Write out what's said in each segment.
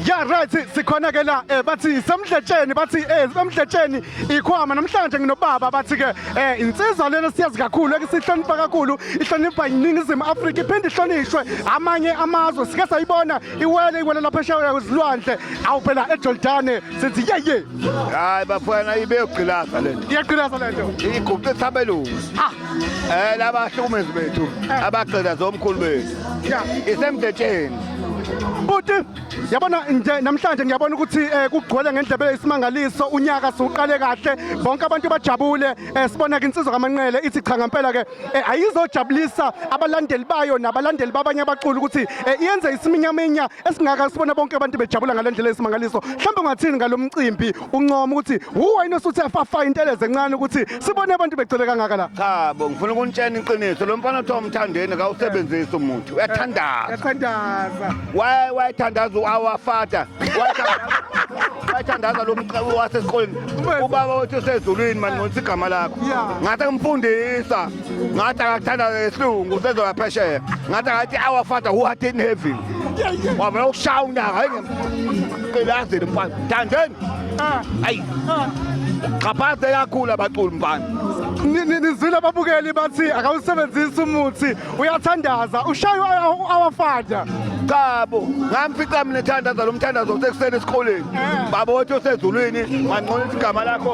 ya right sikhona ke la eh bathi semdletsheni bathi eh semdletsheni ikhwama namhlanje nginobaba bathi ke eh insizwa lena siyazi kakhulu ekusihlonipha kakhulu ihlonipha iningizimu Afrika iphinde ihlonishwe amanye amazwe sike sayibona iwele iwele lapha eshawa kwezilwandle awu phela eJordane sithi yeye hayi bafana ibeyogqilaza lento iyaqinasa lento igubhe thabelungu ah Eh laba hlukumezi bethu eh. abagcina zomkhulu bethu. Yeah, isemdetsheni. Buti yabona nje namhlanje ngiyabona ukuthi eh, kugcwele ngendlebe isimangaliso unyaka siwuqale kahle bonke abantu bajabule eh, sibona ke insizwa kamanqele ithi cha ngempela ke eh, ayizojabulisa abalandeli bayo nabalandeli babanye abaculi ukuthi iyenze isiminyaminya esingaka sibona bonke abantu bejabula ngalendlela isimangaliso mhlawumbe ungathini ngalomcimbi uncoma ukuthi uwena osuthe fafa inteleze encane ukuthi sibone abantu begcwele kangaka la cha bo ngifuna ukunitshena iqiniso lo mfana othiwa umthandeni kawusebenzisi umuntu uyathandaza uyathandaza waye wayethandaza uawafata wayethandaza lo mqabu wasesikoleni ubaba wethu usezulwini mani ngonisa igama lakho ngathi ngimfundisa ngathi akathandaza ngesilungu usezoya phesheya ngathi akathi our father who art in heaven wavela ukushaya unyaka hayi ngemqilazeli mfana thandeni ah. ayi ah. xhaphaze kakhulu abaculi mfana nizwile ababukeli bathi akawusebenzisi umuthi uyathandaza ushaye awafada qabo ngamfica mina ethandaza lo mthandazo sekuseni esikoleni eh. baba othi osezulwini mancola isigama lakho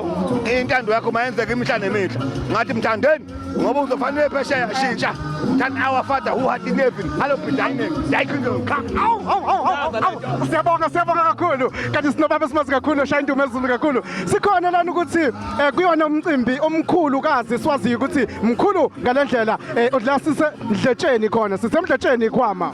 intando yakho mayenzeka imihla nemihla ngathi mthandeni ngoba uzofanele phesheya shintsha than our father who had in heaven hello dining yayikhindle cha awu awu awu awu siyabonga siyabonga kakhulu kanti sinobaba esimazi kakhulu oshaya indumo ezulu kakhulu sikhona lana ukuthi eh, kuyona umcimbi omkhulu kazi siwaziyo ukuthi mkhulu ngalendlela eh, udlasise ndletsheni khona sisemdletsheni ikhwama